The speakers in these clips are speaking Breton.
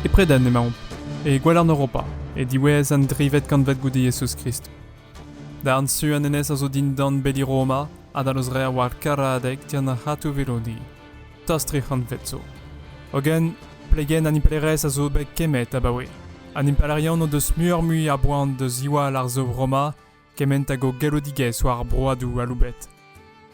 E Preden emaomp, e gwalarn Europa, e diwezh an drivet kantved goude Jezuz-Krist. Darn su an enez a zo dindan beli Roma, adal eus re war Karadeg dian ar C'hatoù-Velodi. tost tri c'hantved zo. Hogen, plegenn an impalaerezh a zo bet kemmet abaoe. An impalaerion o deus muioc'h-mui a boan da ziwall ar sav Roma kement hag o galloudigezh war ar broadoù aloubet.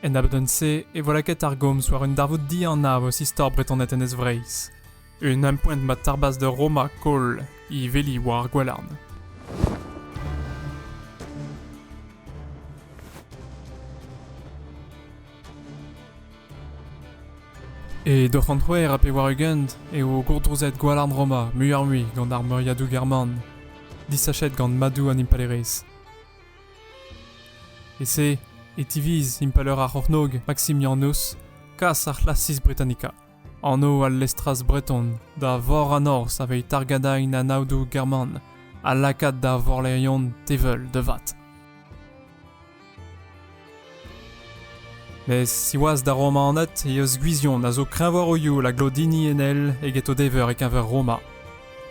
En abadenn-se e vo lakaet ar gomz war un darvoud dianav eus istor Bretoned Enez Vreizh. Un ampoent ma tarbas da Roma koll he veli war ar gwalarn. E d'o c'hontroer ha pe war-ugent eo gourdrouzet gwalarn Roma muioc'h-mui gant ar meuriadoù german, disachet gant madoù an impalaerezh. E-se e tiviz impalaer ar c'hornôg Maximianus kas ar c'hlasis Britannica. anv al lestraz breton da vor an norzh aveit argadain an aodoù german ha lakaat da vorlerion teveul devat. Mes siwazh d'ar Romaned e eus gwizion a zo kreñvaroioù a glodini enel eget o dever e-keñver Roma.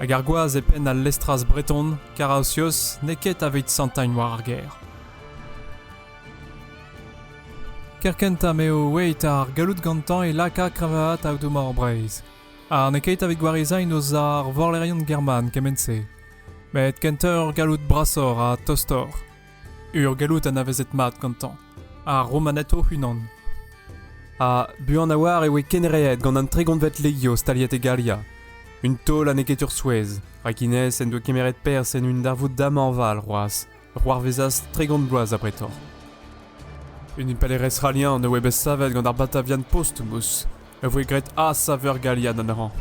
Hag ar gwaz e penn al lestraz breton, Carausius, n'eo ket aveit santagne war ar gêr. Kerkentañ m'eo aet ar galloud gantañ e laka kreñvaat aodoù-mor Breizh. Ha n'eo ket evit gwarezañ o za ar vorlerion german kement-se. Met kentoc'h ur galloud brasoc'h ha tostoc'h. Ur galloud anavezet mat gantañ, ar Romaned o-unan. Ha buan a-walc'h e oe kenreet gant an tregontved legio staliet e Galia. Un taol ha n'eo ket ur souezh, rak Inès en doa kemeret perzh en un darvoud damanval c'hoazh. c'hoarvezas tregont bloaz abretoc'h. Un impalaerez c'halian a voe bet savet gant ar Batavian Posthumus a voe graet a-saver galian anezhañ.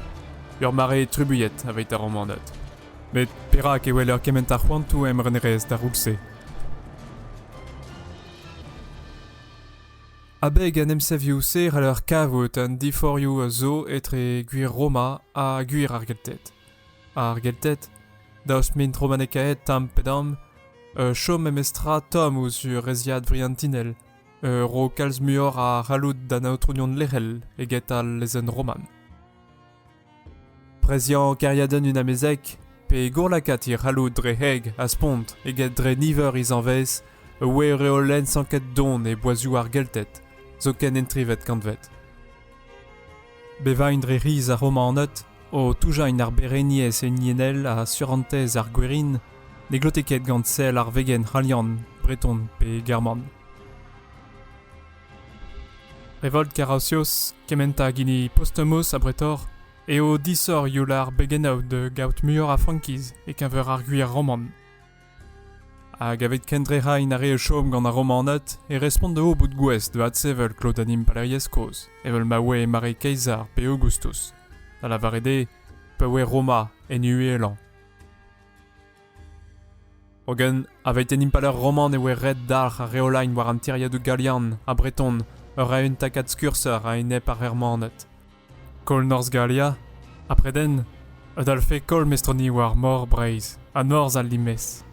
Ur mare trubuilhet avait ar Romaned. Met perak e weler kement a c'hoantoù emrenerezh d'ar roud-se Abeg an emsavioù-se c'haller kavout an diforioù a zo etre gwir Roma ha gwir ar Gelted. Ar Gelted, daoust m'int romanekaet tamm pe damm, uh, chom memestra tomm ouzh reziad vriantinel, uh, ro kalz muioc'h a c'halloud d'an aotrounion lec'hel eget al lezenn roman. Preziañ kêriadenn un amezeg, pe gourlakaat he c'halloud dre heg ha spont eget dre niver he zanvez, a oe reolenn sanket don e boazioù ar Gelted, zoken en trivet kantved. Bevañ dre riz ar Romaned o toujañ en arbereniezh hiniennel ha surentez ar gwerin ne glote ket gant sell ar vegenn c'halian, breton pe german. Revolt Karausios, kementañ hag hini Postumos abretoc'h, eo disoc'h youl ar begennaoù da gaout muioc'h a frankiz e-keñver ar gwir roman. Hag evit kendrec'hañ ar re o chom gant ar Romaned e respont dezho bout gouest da adsevel klot an impalaeriezh kozh, evel ma oe mare Kaesar pe Aogustus, da lavaret eo pa oe Roma en uhelañ. Hogen, aveit an impalaer roman e oe ret dalc'h ar reolagn war an tiriadoù galian ha breton ur eeun takad skurser a-enep ar Germaned. Koll Norzh Galia ha Preden a dalvfe koll mestronigoù ar Mor Breizh ha Norzh al Limez.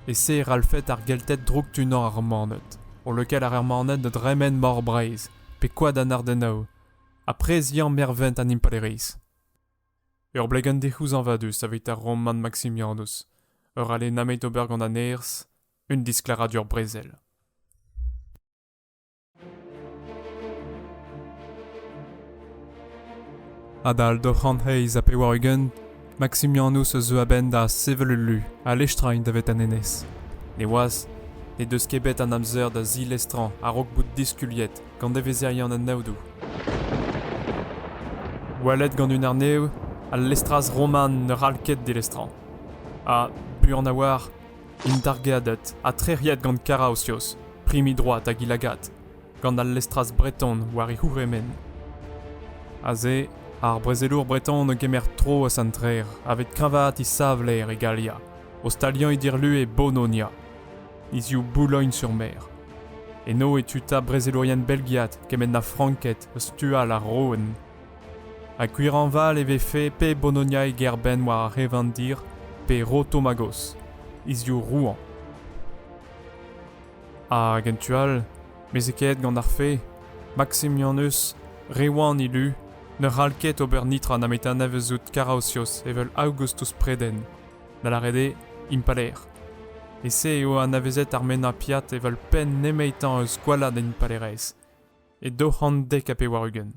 E-se e rallfed ar Gelted drouktunañ ar Romaned, o lakaat ar Romaned da dremen Mor Breizh pe Koad an Ardennoù, ha preziañ mervent an Impalaeriezh. Ur blegenn dic'houzañvadus evit ar Roman Maximianus, ur ale nameit ober gant an nerzh, un disklaradur brezel. Adal daou c'hant eizh ha pevar-ugent, Maksimianus a zeu a-benn da sevel ul lu ha lestrañ int davet an enez. Neoazh n'he deus ket bet an amzer da zilestrañ a-raok bout diskuliet gant devezherion an aodoù. Oalet gant un arnev, al lestraz roman ne c'hall ket dilestrañ. Ha buan a-walc'h Indargeaded ha trec'hiet gant Karaosios, primi droad hag ilagad, gant al lestraz breton war e c'hourc'hemenn. Aze, ar brezelour breton a gemer tro eus an trec'h aveit kreñvaat e savler e Galia, ostaliañ e dirlue Bononia, hiziv Boulogn sur Mer. Eno e tuta brezelourien belgiat kement ha Franked eus tu all ar Roen Ha gwir hañval e vefe pe Bologna e gêr-benn war ar Revandir pe Rotomagos, hiziv Rouen. Hag en tu all, mezhekaet gant ar fe, Maximianus, re wan e lu, ne c'hall ket ober nitra na metanavout Karaosios evel Augustus Preden, da lâret eo impalaer. E-se eo anavezet ar mennañ piat evel penn nemetañ eus gwalladenn impalaerezh, e daou c'hant dek ha pevar-ugent.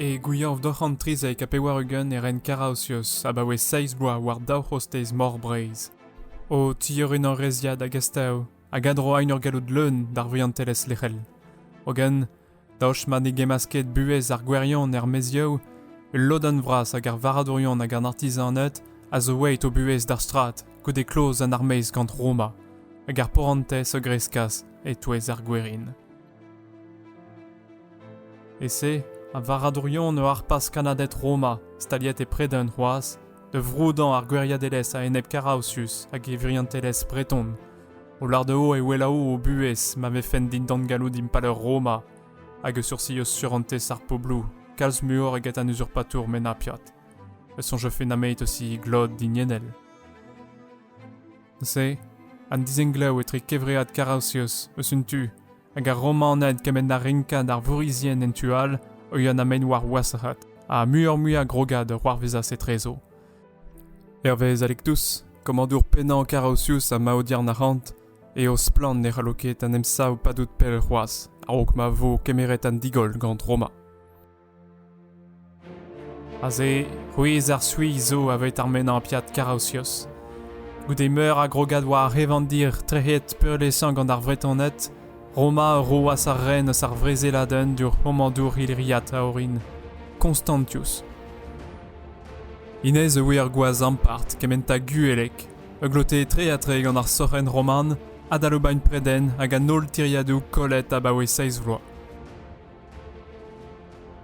E gouiañv daou c'hant trizek ha pevar-ugent e ren Karaosios abaoe seizh bloaz war daou c'hostez Mor Breizh. O tiorinañ reziad hag astav hag a-dro aen ur galloud leun d'ar vihantelezh lec'hel. Hogen, Daoust ma ne gemmas ket buhez ar gwirion er maezioù, ul lodenn vras ag ar varradourion hag an artizaned a zo aet o buhez d'ar strad goude kloz an armeizh gant Roma, hag ar porantez a greskas e-touez ar gwerin. E-se, ar varradourion a harpas kannaded Roma, staliet e Preden c'hoazh, da vroudañ ar gwiriadelezh a-enep Karaosius hag e viriontelezh breton, O larde'o e welaou o buhez ma vefent dindan galloud impalaer Roma, hag e soursios surentez ar poblou kalz muioc'h eget an uzurpatour menapiat, e soñjfe nameit aussi he glod diniennel. Neuze, an dizenglev etre kevread Karaosios eus un tu hag ar Romaned kement ha renkad ar vourizien en tu all o ya na mein war wasac'had, ha muioc'h-mui a grogad a c'hoarvezas etrezo. Hervez Alectus, komadour pennañ Carausius ha maodiern arc'hant, eo splann ne c'hallo ket an emsav padout pell c'hoazh a-raok ma vo kemeret an digoll gant Roma. Aze, rouez ar Suis zo aveit ar menampiad Karausios. Goude meur a grogad war ar c'hevandir trec'het peurliesañ gant ar Vretoned, Roma a roas ar ren eus ar vrezeladenn d'ur c'homañdour illiriat a-orin, Constantius. Hennezh a ouie ar gwaz ampart kementañ gueleg, a glote tre-ha-tre gant ar sorc'henn roman, adalobain-predenn hag an holl tiriadoù kollet abaoe seizh vloaz.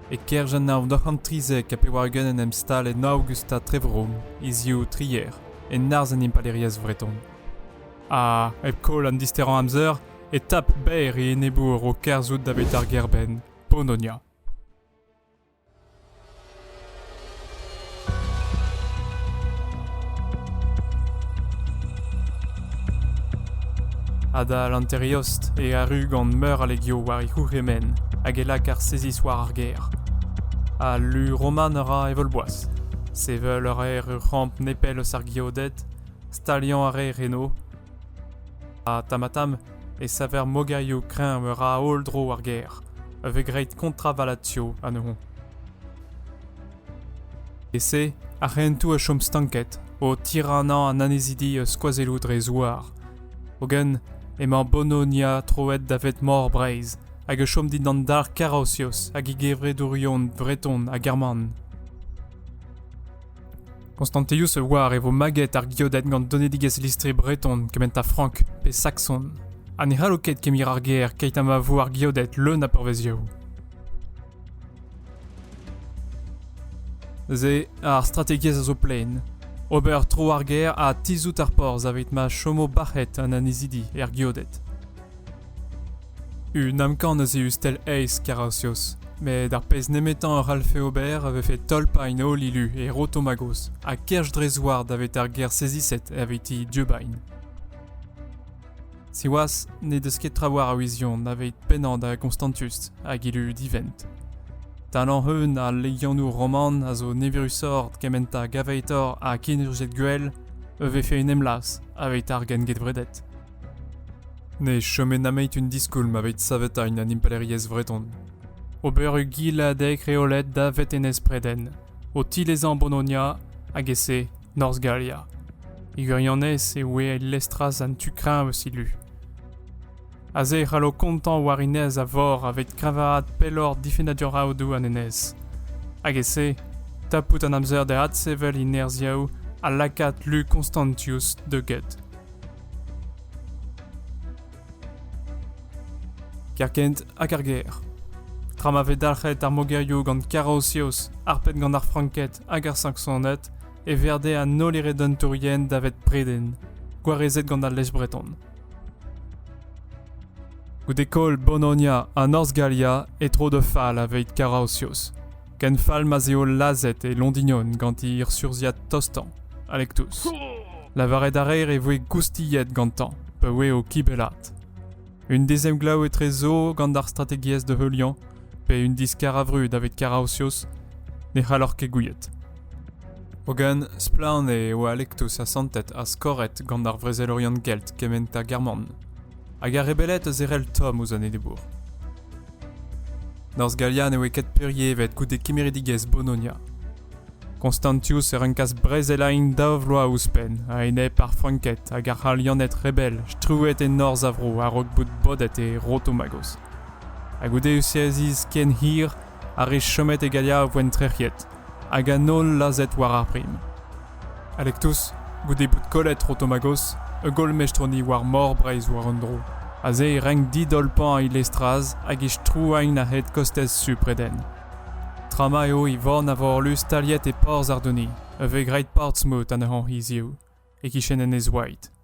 E-kerzh an hañv nav c'hant trizek ha pevar-ugent en em stal en Aogust ha Trevrom hiziv Trier, en arz an impalaeriezh vreton. Ha, hep koll an disterañ amzer, e tap berr e enebour o kerzhout da bet ar gêr-benn, Polonia. Adal hanteriost e arru gant meur a legio war e c'hourc'hemenn hag e lak ar seziz war ar gêr. Al lu roman a ra evel-boaz. Sevel a raer ur c'hamp nepell eus ar geoded, staliañ a raer eno, ha tamm-ha-tamm e saver mogerioù kreñv meur a holl dro ar gêr, a vez graet kontravalatio anezho. E-se, ar hentoù a chom stanket, o tiranañ an annezidi eus skoazelloù dre zouar. Hogen, emañ Bononia troet davet Mor Breizh, hag a chom dindan dar Karosios hag e gevredourion breton ha german. Konstantius a oar e vo maget ar geoded gant donedigezh listri breton kementañ frank pe sakson, ha ne c'hallo ket kemir ar ger keit ha ma vo ar geoded leun a pourvezioù. Se, ar strategiezh a zo plaen. Ober tro ar ger ha tizhout ar porzh evit ma chomo bac'het an annezidi er geoded. Un amkan ez eus tel aes Karasios, met ar pezh nemetañ a c'hallfe ober a vefe tolpañ en holl ilu e Rotomagos ha kerch dre zouar davet ar gêr seziset eviti Dieubagn. Siwazh, n'he deus ket trawalc'h a wizion daveit pennañ da Constantius hag ilu divent. Talañ eun a legianoù roman a zo neverusoc'h kementañ gaveitor ha kenurziet gwell, e vefe en em las aveit ar gengevredet. Ne chome nameit un diskoulm aveit savetañ un impalaeriezh vreton. Ober ugiladeg reolet davet enez Preden, o tilezañ Bononia hag e-se Norzh Galia. E gwirionez e oe el lestraz an tu kreñv eus he lu. Aze e c'hallo kontañ war enez a vor aveit kreñvaat pelloc'h difennadur aodoù an enez. Hag e-se, tapout an amzer da adsevel he nerzhiaoù ha lakaat lu Constantius da get. Kerkent hag ar gêr. Tra ma vez dalc'het ar mogerioù gant Karosioz, harpet gant ar Franked hag ar Saksoned, e verde an holl eredentourien davet preden, gwarezet gant al lez breton. Goude koll Bononia ha Norzh Galia e tro da fall aveit Karaosios, Ken fall ma'z eo lazhet e Londignon gant e urzhiad tostañ, Alectus. Lavaret a reer e voe goustilhet gantañ, pa oe o kibellat. Un dezemglav etrezo gant ar strategiezh de heuliañ, pe un diskar a vrud davet Karaosios, ne c'hallor ket gouiet. Hogen, splann eo Alectus asantet ha skoret gant ar vrezelourian gelt kement ha German, hag a rebellet eus erell Tom ouzh an Edebour. Norzh Galia ne oe ket peurlievet goude kemeridigezh Bologna. Constantius a renkas brezelañ int daou vloaz ouzhpenn a-enep ar Franked hag ar C'halianed rebel strewet e norzh a vro a-raok bout bodet e Rotomagos. Ha goude Eusiaziz ken hir, ar re chomet e Galia a voent trec'hiet, hag an holl lazhet war ar prim. Alektos, goude bout kollet Rotomagos, ur golmestroni war Mor Breizh war un dro. Aze e renk didolpañ he lestraz hag he strouagne a-hed kostez Supreden. Tra ma eo e vornavorlu staliet e porzh Ardoni, e vez graet Portsmouth anezhañ hiziv, e-kichen Enez White.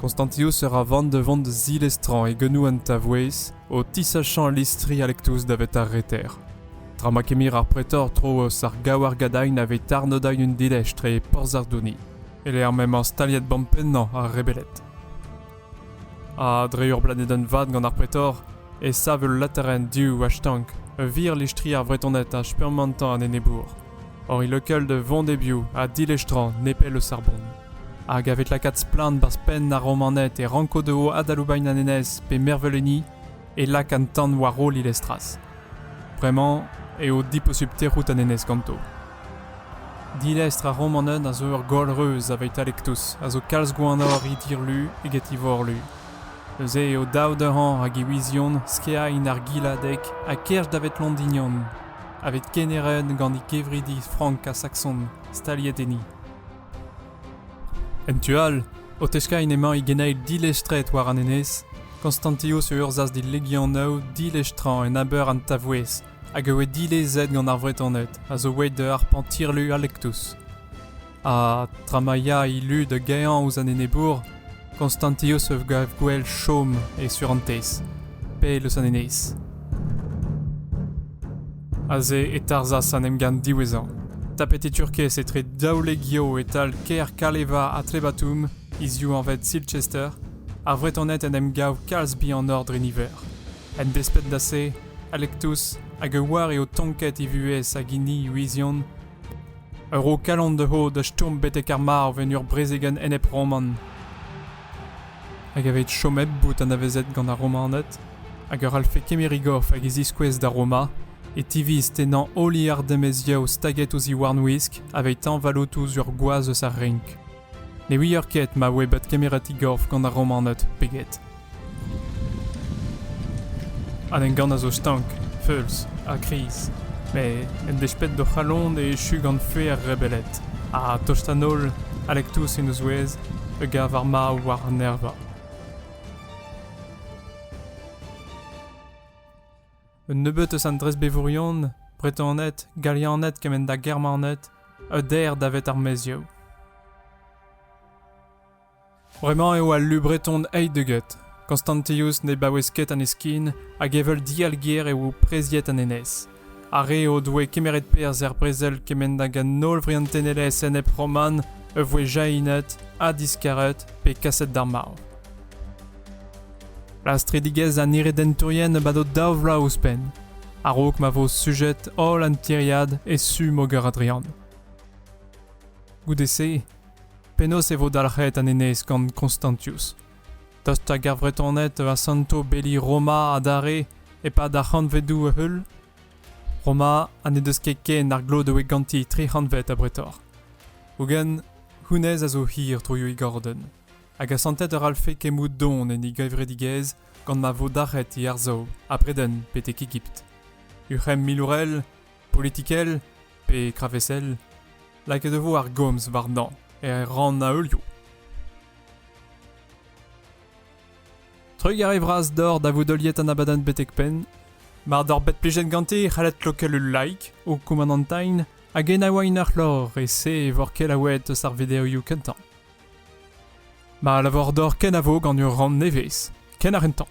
Konstantius a ra van da vont da zilestrañ e genou an Tavouez o tisachañ listri Alectus davet ar Reter. Tra ma kemir ar pretor tro eus ar gaouargadain a vez tarnodain un dilej tre porzh ar Douni, e-lec'h m'emañ staliet bampennañ ar rebeled. Ha dre ur blanedenn vat gant ar pretor e sav ul laterenn du a-stank, ur vir listri ar Vretoned a spurmantañ an enebour, hor ilokel da vont e-biou ha dilestrañ nepell eus ar bont. Hag a vez lakaet splann 'barzh penn ar Romaned e ranko dezho adaloubain an enez pe mervel enni e lak an tan war roll Ilestras. Bremañ eo diposupl tec'hout an enez ganto. Dilestr ar Romaned a zo ur goll reuz aveitalektus a zo kalz gwannoc'h he dirlu eget he vorlu. Neuze eo dav dezhañ hag e wiziont skiain ar giladeg ha kerch davet Londinion, aveit kemeret gant he kevridi frank ha sakson staliet enni. En tu all, o teskaén emañ e geneil dilestret war an enez, Konstantios a urzhas d'e legianaoù dilestrañ en aber an Tavouez, hag a oe dilezet gant ar Vretoned a zo aet da harpañ tirlu Alectus. Ha, tra ma ya e lu da gaeañ ouzh an enebour, Konstantius a gav gwell chom e surentez, pell eus an enez. Aze e tarzhas an emgann diwezhañ. Tapet e Turkez etre daoulek eo e-tal kêr Kaleva ha Trebatum, hiziv anvet Silchester, ar Vretoned en em gav kalz bihanoc'h dre niver. En desped da se, Alectus hag a oar eo tonket e vuhez hag hini Louisian Ur ro kalon dezho da stourm betek ar marv en ur brezegenn enep-roman. Hag evit chomet bout anavezet gant ar Romaned, hag ur c'hallfe kemer e gorf hag e ziskouez da Roma, e tiviz tennañ holl ardemezioù staget ouzh e warnwisk aveit tañvallout ouzh ur gwaz eus ar renk. Ne ouier ket ma oe bet kemeret e gorf gant ar Romaned pe get. An emgann a zo stank, feulz ha kriz, met en desped d'o c'halon e echu gant fue ar rebeled, ha tost an holl, Alectus en o zouez, a gav ar marv war an erva. Un nebeud eus an dresbevourion, Bretoned, Galianed kement ha Germaned, a der davet ar maezioù. Bremañ eo al lu breton Heidegget. Constantius ne baouez ket an eskin hag evel dialger eo preziet an enez. Ar re o doe kemeret perzh er brezel kement hag an holl vriantenelezh enep-roman a voe jahinet ha diskaret pe kaset d'ar marv. Lastridigezh an iredentourien a bado daou vloaz ouzhpenn, a-raok ma vo sujet holl an tiriad e su Moger Adrian. Goude-se Penaos e vo dalc'het an enez gant Constantius? Tost ag ar Vretoned a santo beli Roma adarre e-pad ar c'hantvedoù a-heul? Roma ha n'he deus ket ken ar glod a oe ganti tri c'hantved abretoc'h. Hogen, hounnezh a zo hir troioù e gordenn, hag asantet a ralfe kemout don en e gevredigezh gant ma vo dalc'het e arsav a-bredenn betek Egipt. Ur c'hemm milourel politikel pe kravesel, lakaet e vo ar gomz warnañ er rannaolioù. Trugarez vras d'hor da vout heuliet an abadenn betek-penn, mar d'hor bet plijet ganti c'hallet klokel ul like o koumanantain hag enaouain ar c'hlor e-se vor kelaouet eus ar videoioù kentañ. Ma lavar d'hor kenavo gant ur rann nevez, ken ar entañ.